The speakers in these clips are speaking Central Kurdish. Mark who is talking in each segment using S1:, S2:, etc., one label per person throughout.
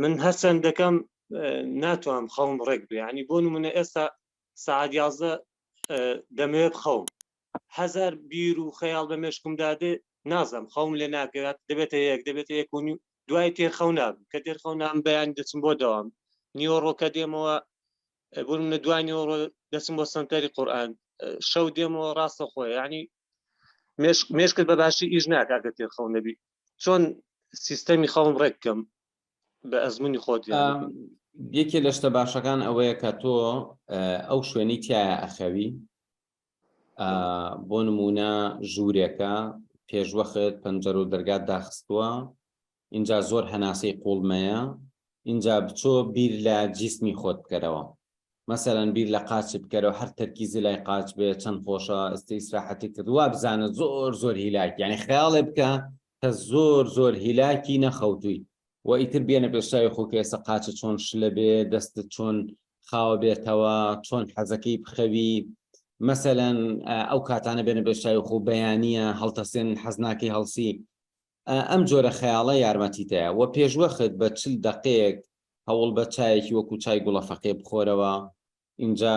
S1: من هەرچەند دەکەم ناتوانم خەوم ڕێک بیانی بۆ نمونە ئێستا سعاد یازدە دەمەوێت بخەوم هزار بیر و خەیاڵ بە مێشکمدا دێ نازم خەوم لێ ناکەات دەبێتە یەک دەبێتە یەک و نیو دوای تێرخەو نابم کە تێرخەو نام بەیان دەچم بۆ دەوام نیوەڕۆکە دێمەوە بۆ منە دوای نیوەڕۆ دەچم بۆ سنتەری قورآن شەو دێمەوە ڕاستە خۆی ینی مێشکت بە باشی ئیش ناکە کە تێرخەو نەبی چۆن سیستەمی خەڵم ڕێککەم بە ئەزمونی خۆت یەکێ
S2: لە شتە باشەکان ئەوەیە کە تۆ ئەو شوێنی تایە ئەخەوی بۆ نمونە ژوورێکە پێشوەخت پەنجەر و دەرگات داخستووە اینجا زۆر هەناسەی قوڵمەیە اینجا بچۆ بیر لە جیسمی خۆت بکەرەوە مەسەلەن بیر لە قاچت بکەرەوە هەر تەرکیزی لای قاچ بێ چەند خۆشە ئەستی ئیسراحەتی کرد وا بزانە زۆر زۆر هیلاک یعنی خەیاڵێ بکە کە زۆر زۆر هیلاکی نەخەوتووی و ئیتر بێنە پێشاوی خۆ کە ئێستا قاچە چۆن شلە بێ دەستت چۆن خاوە بێتەوە چۆن حەزەکەی بخەوی مەسەلەن ئەو کاتانە بێنە پێشاوی خۆ بەیانیە هەڵتەسێن حەزناکەی هەڵسی ئەم جۆرە خەیاڵە یارمەتیتدەە و پێشوەخت بە چل دەقەیەک هەوڵبە چایەکی وەکو چای گوڵە فەقێ بخۆرەوە ئینجا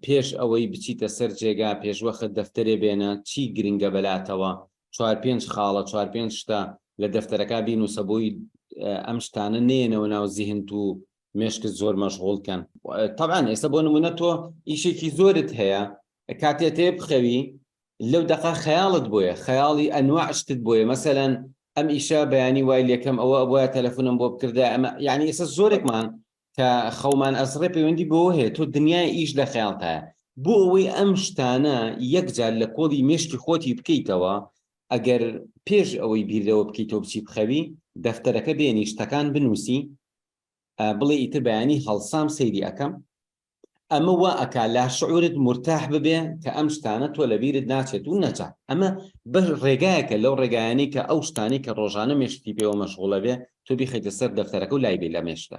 S2: پێش ئەوەی بچیتە سەر جێگا پێشوەخت دەفتەرێ بێنە چی گرنگە بەلاتەوە چوار پێنج خاڵە چوار پێنج شتە لە دەفتەرەکە بینوسە بۆی ئەم شتانە نێنەوە ناو زیهنت و مێشکت زۆر مەشغول کەن طبعاان ئێستا بۆ نمونە تۆ ئیشێکی زۆرت هەیە کاتێتێ بخەوی لەو دەقە خەیاڵت بۆیە خەیاڵی ئەنواع شتت بۆیە مەسەلەن ئەم ئیشە بەیانی وای لەکەم ئەوە ئەبواە تەلەفۆنم بۆ بکردە ئەمە یعنی ئێستا زۆرێکمان کە خەومان ئەسڕێ پەیوەندی بۆ هەیە تۆ دنیای ئیش لە خەیاڵتایە بۆ ئەوەی ئەم شتانە یەکجار لە کۆڵی مێشکی خۆتی بکەیتەوە ئەگەر پێش ئەوەی بیردەوە بکەیت تۆ بچی بخەوی دەفتەرەکە بێنی شتەکان بنووسی بڵێ ئیتر بەیانی هەڵسام سەیری ئەەکەم ئەمە وا ئەکا لاشعورت مرتاح ببێ کە ئەم شتانە تۆ لە بیرت ناچێت و نەجا ئەمە بەش ڕێگایەکە لەو ڕێگایانی کە ئەو شتانی کە ڕۆژانە مێشتی پێوە مەشغوڵە بێ تۆ بیخیتە سەر دەفتەرەکە و لای بێ لە مێشتە